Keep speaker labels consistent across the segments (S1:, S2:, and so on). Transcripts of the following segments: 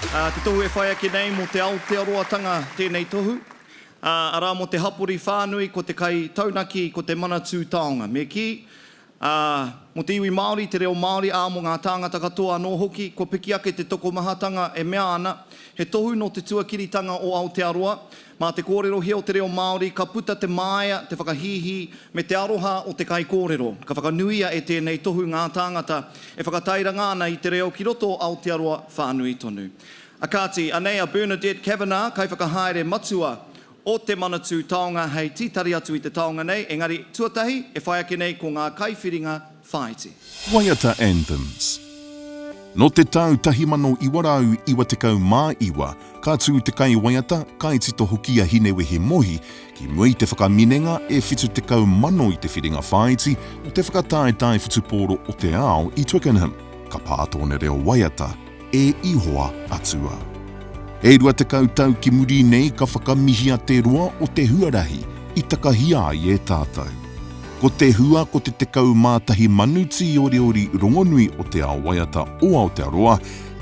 S1: Te tohu e whai ake nei mō te Aotearoatanga tēnei tohu, arā mō te hapori whānui, ko te kai taunaki, ko te manatū taonga. Me kī, mō te iwi Māori, te reo Māori, ā, mō ngā tāngata katoa anō hoki, kua piki ake te tokomahatanga e mea ana, he tohu nō te tuakiritanga o Aotearoa, Mā te kōrerohia o te reo Māori ka puta te māia, te whakahīhī, me te aroha o te kaikōrero. Ka whakanuia e tēnei tohu ngā tāngata e whakatairanga ana i te reo ki roto o Aotearoa whānui tonu. A kāti, anei a Bernadette Kavanagh, Kaiwhakahaere Matua o Te Manatū Taonga hei tītari atu i te taonga nei, engari, tuatahi, e whai ake nei ko ngā kaiwhiringa, Whāiti. Waiata
S2: Anthems Nō te tau 1999 ka tū te kaiwaiata, kaitito hoki a Hinewehi Mohi ki mua i te whakaminenga e 70,000 i te whiringa whāiti o te whakataetae whutupōro o te ao i Twickenham. Ka pā tōna reo waiata, E Ihoa Atua. E rua tekau tau ki muri nei ka whakamihia te roa o te huarahi i takahia ai e tātou. Ko te hua ko te tekau mā tahi manu tīoriori rongonui o te ao waiata o Aotearoa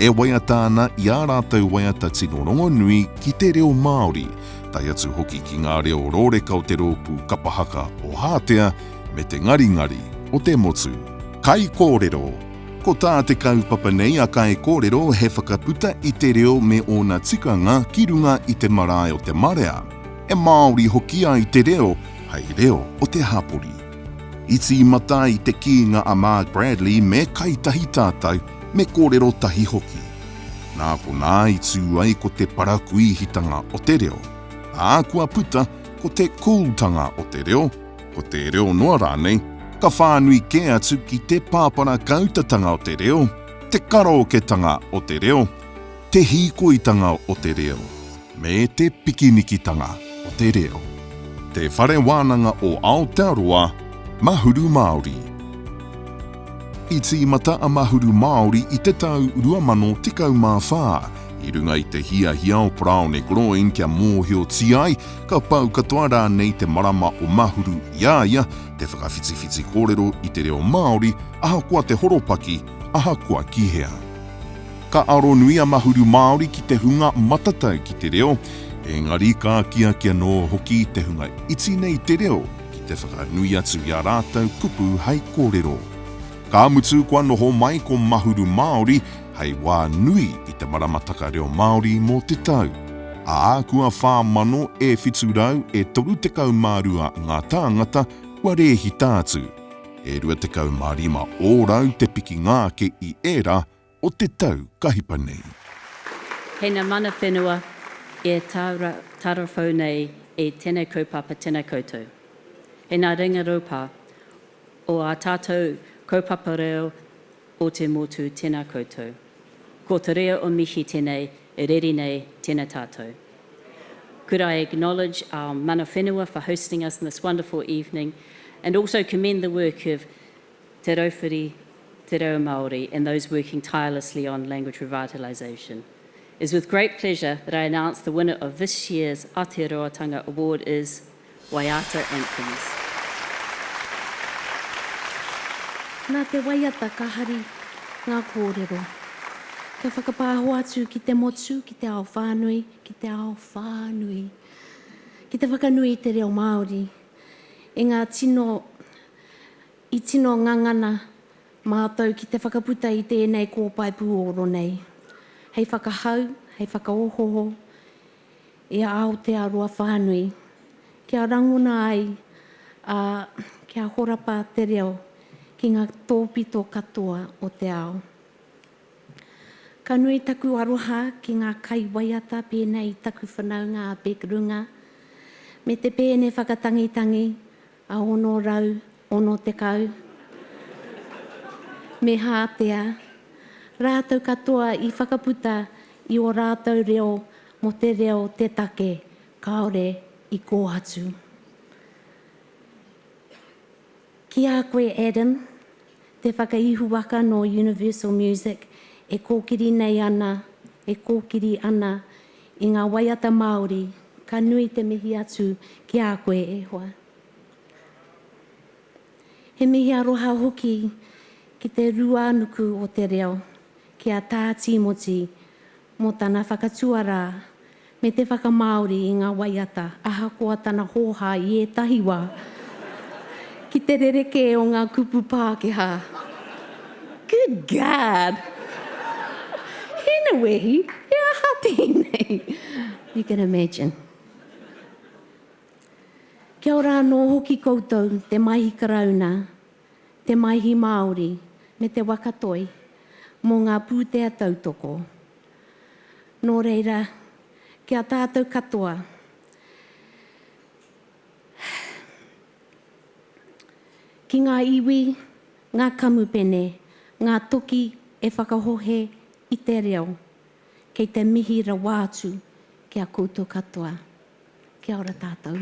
S2: e waiata ana i ā rātou waiata tino rongonui ki te reo Māori, tae atu hoki ki ngā reo rōreka o te rōpū Kapa Haka o Hātea me te ngaringari o te motu. Kaikōrero, Ko tā te kaupapa nei a Kaikōrero he whakaputa i te reo me ōna tikanga ki runga i te marae o te marea, e Māori hoki ai te reo hei reo o te hapori. I tīmata ai te kīnga a Mark Bradley me kai tahi tātou, me kōrero tahi hoki. Nā konā i tū ai ko te parakuihitanga o te reo, ā, kua puta ko te cool-tanga o te reo, ko te reo noa rānei, ka whānui kē atu ki te pāpara kautatanga o te reo, te karaoketanga o te reo, te hīkoitanga o te reo, me te pikinikitanga o te reo. Te Whare Wānanga o Aotearoa, Mahuru Māori. I tīmata a Mahuru Māori i te tau 2014, i runga i te hiahia o Braun e Groen kia mōhiotia ai Ka pau katoa rānei te marama o Mahuru i a ia te whakawhitiwhiti kōrero i te reo Māori, ahakoa te horopaki, ahakoa ki hea. Ka aronui a Mahuru Māori ki te hunga matatau ki te reo, engari ka akiaki anō hoki te hunga iti nei te reo ki te whakanui atu i ā rātou kupu hai kōrero. Ka mutu kua noho mai ko Mahuru Māori, hei wā nui i te maramataka reo Māori mō te tau, ā, kua 4,000 e 700 e 32 ngā tāngata kua rēhita atu, e 25 ōrau te pikinga ake i ērā o te tau ka hipa nei. Kei
S3: ngā mana whenua e tararwhau nei i tēnei kaupapa tēnei koutou. Kei ngā ringa rūpā o ā tātou kaupapa reo, o te motu tena koutou. Ko te rea o mihi tenei e reri nei tena tatou. Could I acknowledge our mana whenua for hosting us in this wonderful evening and also commend the work of Te Rauwhiri Te Reo Maori and those working tirelessly on language revitalisation. Is with great pleasure that I announce the winner of this year's Aotearoatanga Award is. Waiata Anthems.
S4: Nā te waiata ka hari ngā kōrero. Kia whakapāho atu ki te motu, ki te ao whānui, ki te ao whānui. Ki te whakanui i te reo Māori, i ngā tino, i tino ngangana mātou ki te whakaputa i tēnei kōpae pūoro nei. Hei whakahau, hei whakaohoho, I a Aotearoa whānui, kia rangona ai, ā, kia horapa te reo ki ngā tōpito katoa o te ao. Ka nui taku aroha ki ngā kaiwaiata pēnei i taku whanaunga a Beck Runga, me te pēne whakatangitangi 660. Me hātea rātou katoa i whakaputa i ō rātou reo mō te reo te take kāore i kōhatu. Ki a koe, Adam. Te whakaihuwaka nō Universal Music e kōkiri nei ana, e kōkiri ana i ngā waiata Māori, ka nui te mihi atu ki a koe e hoa. He mihi aroha hoki ki Te Ruānuku o Te Reo, ki a Tā Tīmoti mō tana whakatuarā me te whakamāori i ngā waiata ahakoa tana hōhā i ētahi wā, ki te rerekē o ngā kupu Pākehā. Good God! Hinewehi, he aha tēnei? You can imagine. Kia ora anō hoki koutou, te Maihi Karauna, te Maihi Māori, me te Waka Toi, mō ngā pūtea tautoko. Nō reira, ki a tātou katoa, ki ngā iwi, ngā kamupene, ngā toki e whakahohe i te reo, kei te mihi rawa atu ki a koutou katoa. Kia ora tātou.